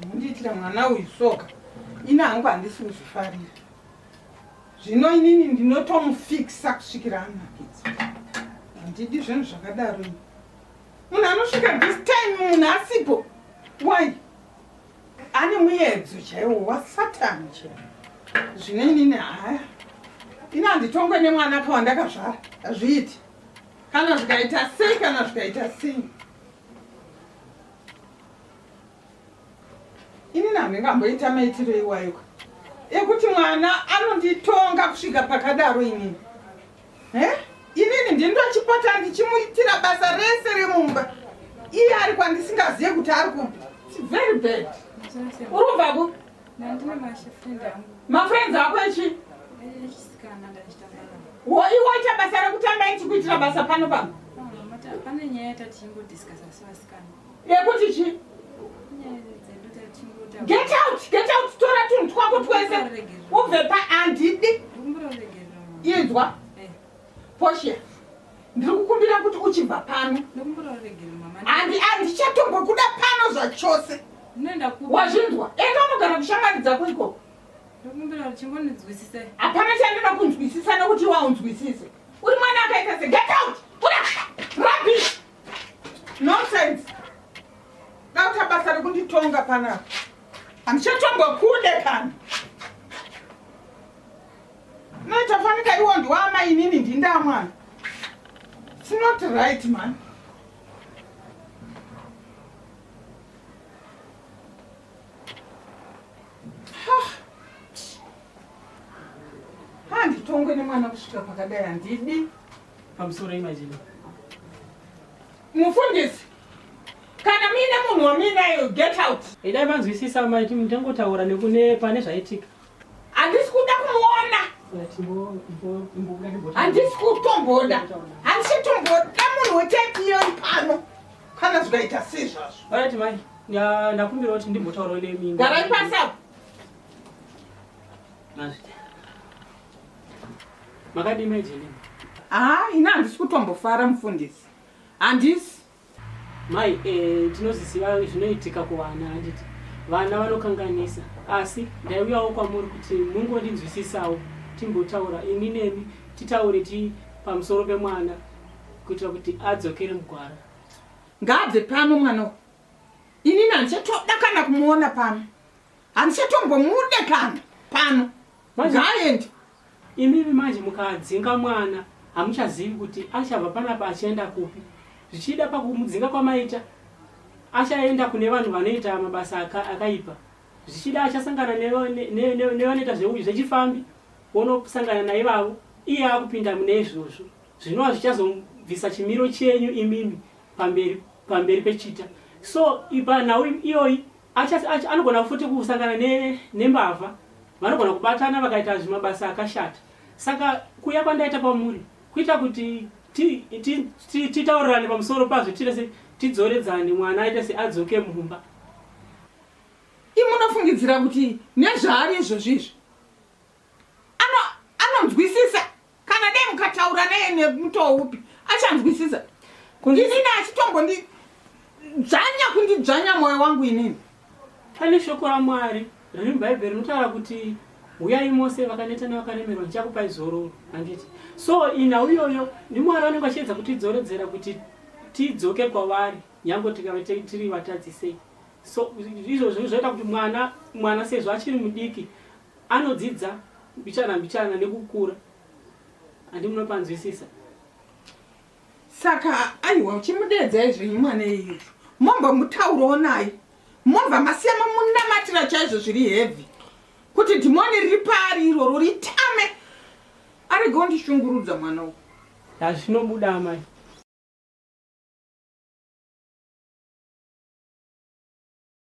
Mundiitira mwana uyu soka ini hangu handisi kuzvifarira zvino inini ndinotomufikisa kusvikira anakidza handidi zvinhu zvakadaro munhu anosvika this time munhu asipo why ane muyedzo chaiwo wasatani chaiwo zvine inini haya ini handitongwe nemwana ka wandakazvara hazviiti kana zvikaita sei kana zvikaita sei inini handingamboita maitiro iwayoka ekuti mwana anonditonga kusvika pakadaro inini Eh? Inini ndindochipota ndichimuitira basa rese remumba. Iye ari kwandisingaziye kuti ari kupi. It's very bad. Uri kubva ku? Nandine mashifriend angu. Mafriends ako echi? Echisikana ndachitamba. Wo iwe waita basa rekutamba ichi kuitira basa pano pano? Pane nyaya yatati chingodiscussa sevasikana. yekuti chi get out get out tora tunhu twako twese ubve pa andidi inzwa eh. poshia ndiri kukumbira kuti uchibva pano andi andichatombokuda pano zvachose wazvinzwa enda unogara kushamwari dzako ikoko hapana chandinoda kunzwisisa nekuti waunzwisise uri mwana akaita se get out ura rabish Nonsense. Dauta basa rekunditonga panapa. Handichatonga kude kana. Noita fanika iwo ndiwama inini ndindamwana. It's not right man. Handitongwe nemwana kusvika pakadai handidi. pamusoro imajini mufundisi kana muine munhu wamuinayo get out idai manzwisisa maiti mutangotaura nekune pane zvaitika handisi kuda kumuona handisi kutomboda handisi kutomboda munhu wetaipiyoi pano kana zvikaita sezvazvo right mai ndakumbira kuti ndimbotaurawo nemini garai pasi apo Makadii mai Jenny? Ah, ini handisi kutombofara mufundisi. Handisi. Mai, eh, tinozisiva zvinoitika kuvana handiti. Vana vanokanganisa. Asi ndaiuyawo kwamuri kuti mungondinzwisisawo timbotaura ini nemi titaure ti pamusoro pemwana kuitira kuti adzokere mugwara. Ngaabve pano mwana uyu. Ini nandichatoda kana kumuona pano. handichatombomude kana pano ngaaende imimi manje mukadzinga mwana hamuchazivi kuti achabva panapa achienda kupi zvichida pakumudzinga kwamaita achaenda kune vanhu vanoita mabasa akaipa aka zvichida achasangana nevanoita zveuyu zvechifambi wonosangana naivavo iye akupinda mune izvozvo zvinova zvichazobvisa chimiro chenyu imimi pamberi pamberi pechita so panhau iyoyi anogona futi kusangana nembavha ne vanogona kubatana vakaita zvimabasa akashata saka kuya kwandaita kwamuri kuita kuti titaurirane pamusoro pazvo tirese tidzoredzane mwana aita se adzoke mumba imunofungidzira kuti nezvaari izvozvi izvi ano anonzwisisa kana dai mukataura naye nemutoo upi achanzwisisa inini achitombondi dzvanya kundidzvanya mwoyo wangu inini pane shoko ramwari riri mubhaibheri rinotaura kuti huyai mose vakaneta nevakaremerwa ndichakupai zororo handiti so inhau iyoyo ndimwari vanenge vachiedza kutidzoredzera kuti tidzoke kwavari nyange tikave tiri vatadzisei so izvozvo zvoita kuti mwana mwana sezvo achiri mudiki Anodzidza mbichana mbichana nekukura andi munopanzwisisa. Saka aiwa uchimudeedzai zvenyu mwana iyu momba mutauro onai mobva masiya mamunamatira chaizvo zviri heavy kuti dhimoni riri paari iroro ritame arege ondishungurudza mwana uyu hazvinobuda amai